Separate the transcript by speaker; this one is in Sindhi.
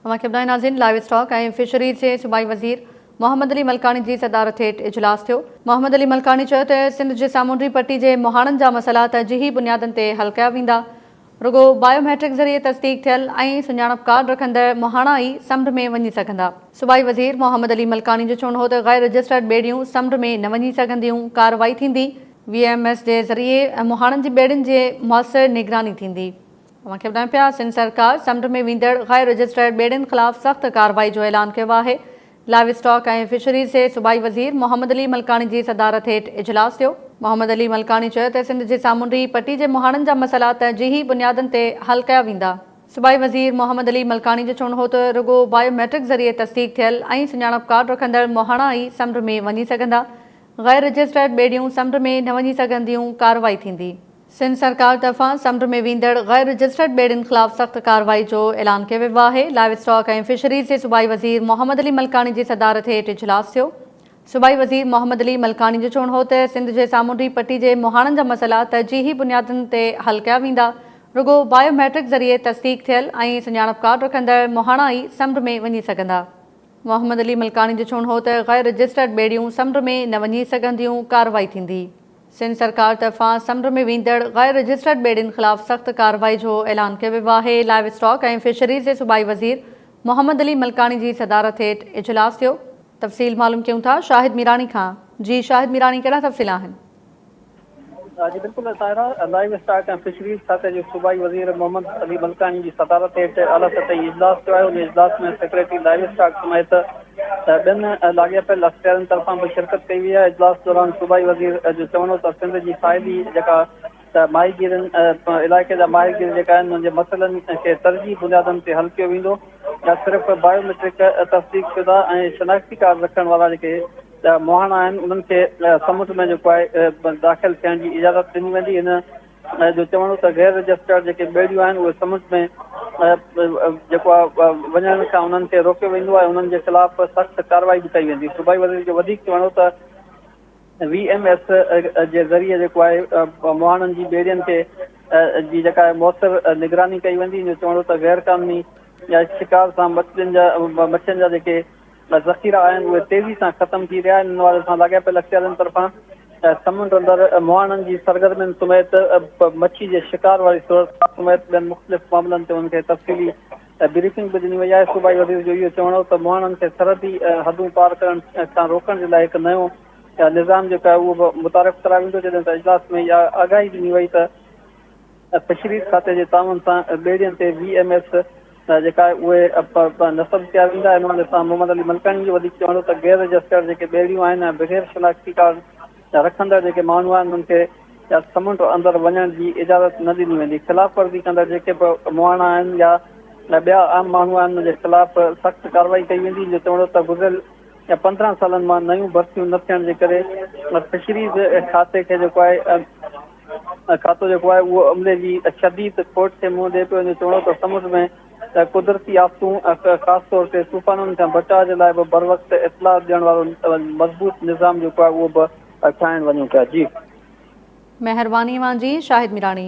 Speaker 1: اوهان کي ٻڌايو ناظرين لائيو اسٽاڪ ۽ فشريز جي صوبائي وزير محمد علي ملڪاڻي جي صدارت هيٺ اجلاس ٿيو، محمد علي ملڪاڻي چيو ته سنڌ جي سامونڊي پٽي جي مهاڻن جا مسئلا ترجيحي بنيادن تي حل ڪيا ويندا، رڳو بايو ميٽرڪ ذريعي تصديق ٿيل ۽ سڃاڻپ ڪارڊ رکندڙ مهاڻا ئي سمنڊ ۾ وڃي سگهندا. صوبائي وزير محمد علي ملڪاڻي جو چوڻ هو ته غير رجسٽرڊ ٻيڙيون سمنڊ ۾ نه وڃي سگهنديون، ڪارروائي ٿيندي، وي ايم ايس جي ذريعي مهاڻن جي ٻيڙين جي موثر نگراني ٿيندي. اوهان کي ٻڌايون پيا سنڌ سرڪار سمنڊ ۾ ويندڙ غير رجسٽرڊ ٻيڙين خلاف سخت ڪارروائي جو اعلان ڪيو آهي، لائيو اسٽاڪ ۽ فشريز جي صوبائي وزير محمد علي ملڪاڻي جي صدارت هيٺ اجلاس ٿيو، محمد علي ملڪاڻي چيو ته سنڌ جي سامونڊي پٽي جي مهاڻن جا مسئلا ترجيحي بنيادن تي حل ڪيا ويندا، صوبائي وزير محمد علي ملڪاڻي جو چوڻ هو ته رڳو بايو ميٽرڪ ذريعي تصديق ٿيل ۽ سڃاڻپ ڪارڊ رکندڙ مهاڻا ئي سمنڊ ۾ وڃي سگهندا، غير رجسٽرڊ ٻيڙيون سمنڊ ۾ نه وڃي سگهنديون، ڪارروائي ٿيندي. سنڌ سرڪار طرفان سمنڊ ۾ ويندڙ غير رجسٽرڊ ٻيڙين خلاف سخت ڪارروائي جو اعلان ڪيو ويو آهي، لائيو اسٽاڪ ۽ فشريز جي صوبائي وزير محمد علي ملڪاڻي جي صدارت هيٺ اجلاس ٿيو، صوبائي وزير محمد علي ملڪاڻي جو چوڻ هو ته سنڌ جي سامونڊي پٽي جي مهاڻن جا مسئلا ترجيحي بنيادن تي حل ڪيا ويندا، رڳو بايو ميٽرڪ ذريعي تصديق ٿيل ۽ سڃاڻپ ڪارڊ رکندڙ مهاڻا ئي سمنڊ ۾ وڃي سگهندا. محمد علي ملڪاڻي جو چوڻ هو ته غير رجسٽرڊ ٻيڙيون سمنڊ ۾ نه وڃي سگهنديون، ڪارروائي ٿيندي. سنڌ سرڪار طرفان سمنڊ ۾ ويندڙ غير رجسٽرڊ ٻيڙين خلاف سخت ڪارروائي جو اعلان ڪيو ويو آهي، لائيو اسٽاڪ ۽ فشريز جي صوبائي وزير محمد علي ملڪاڻي جي صدارت هيٺ اجلاس ٿيو. تفصيل معلوم ڪيون ٿا شاهد ميراڻي کان جي شاهد ميراڻي ڪهڙا تفصيل آهن؟
Speaker 2: جي بلڪل سائره، لائيو اسٽاڪ ۽ فشريز کاتي جي صوبائي وزير محمد علي ملڪاڻي جي صدارت هيٺ اعليٰ سطحي اجلاس ٿيو آهي، ان اجلاس ۾ سيڪريٽري لائيو اسٽاڪ سميت ته ٻين لاڳاپيل اختيارين طرفان به شرڪت ڪئي وئي آهي، اجلاس دوران صوبائي وزير جو چوڻ هو ته سنڌ جي ساحلي جيڪا ته ماهيگيرن علائقي جا ماهيگير جيڪا آهن انهن جي مسئلن کي ترجيحي بنيادن تي حل ڪيو ويندو ته صرف بايو ميٽرڪ تصديق شده ۽ شناختي ڪارڊ رکڻ وارا جيڪي مهاڻا آهن انهن کي سمنڊ ۾ جيڪو آهي داخل ٿيڻ جي اجازت ڏني ويندي ان جو چوڻ هو ته غير رجسٽرڊ جيڪي ٻيڙيون آهن اهي سمنڊ ۾ جيڪو آهي وڃڻ کان انهن کي روڪيو ويندو آهي انهن جي خلاف سخت ڪارروائي به ڪئي ويندي صوبائي وزير جو وڌيڪ چوڻ هو ته وي ايم ايس جي ذريعي جيڪو آهي مهاڻن جي ٻيڙين کي جي جيڪا آهي مؤثر نگراني ڪئي ويندي ان جو چوڻ هو ته غير قانوني شڪار سان مڇين جا مڇين جا جيڪي لاء ذخيرا آهن اهي تيزي سان ختم ٿي رهيا آهن ان حوالي سان لاڳاپيل اختيارين طرفان سمنڊ اندر مهاڻن جي سرگرمين سميت مڇي جي شڪار واري صورتحال سميت ٻين مختلف معاملن تي انهن کي تفصيلي بريفنگ به ڏني وئي آهي صوبائي وزير جو اهو چوڻ هو ته مهاڻن کي سرحدي حدون پار ڪرڻ کان روڪڻ جي لاء هڪ نيون نظام جيڪو آهي اهو به متعارف ڪرايو ويندو جڏهن ته اجلاس ۾ اها آگاهي ڏني وئي ته فشريز کاتي جي تعاون سان ٻيڙين تي وي ايم ايس جيڪا اهي نصب ڪيا ويندا آهن ان سان محمد علي ملڪاڻي جو وڌيڪ چوڻ هو ته غير رجسٽرڊ جيڪي ٻيڙيون آهن ۽ بغير شناختي ڪارڊ رکندڙ جيڪي ماڻهو آهن انهن کي يا سمنڊ اندر وڃڻ جي اجازت نه ڏني ويندي خلاف ورزي ڪندڙ جيڪي به مهاڻا آهن يا ٻيا عام ماڻهو آهن انهن جي خلاف سخت ڪارروائي ڪئي ويندي جو چوڻ هو ته گذريل پندرهن سالن مان نيون ڀرتيون نه ٿيڻ جي ڪري فشريز کاتي کي جيڪو آهي کاتو جيڪو آهي اهو عملي جي شديد کوٽ کي منهن ڏئي پيو وڃي، چوڻو ته سمنڊ ۾ قدرتي آفتون ۽ خاص طور تي طوفانن کان بچاء جي لاء به بروقت اطلاع ڏيڻ وارو مضبوط نظام جيڪو آهي اهو به ٺاهڻ
Speaker 1: وڃون
Speaker 2: پيا جي.
Speaker 1: مهرباني
Speaker 2: اوهان جي شاهد
Speaker 1: ميراڻي.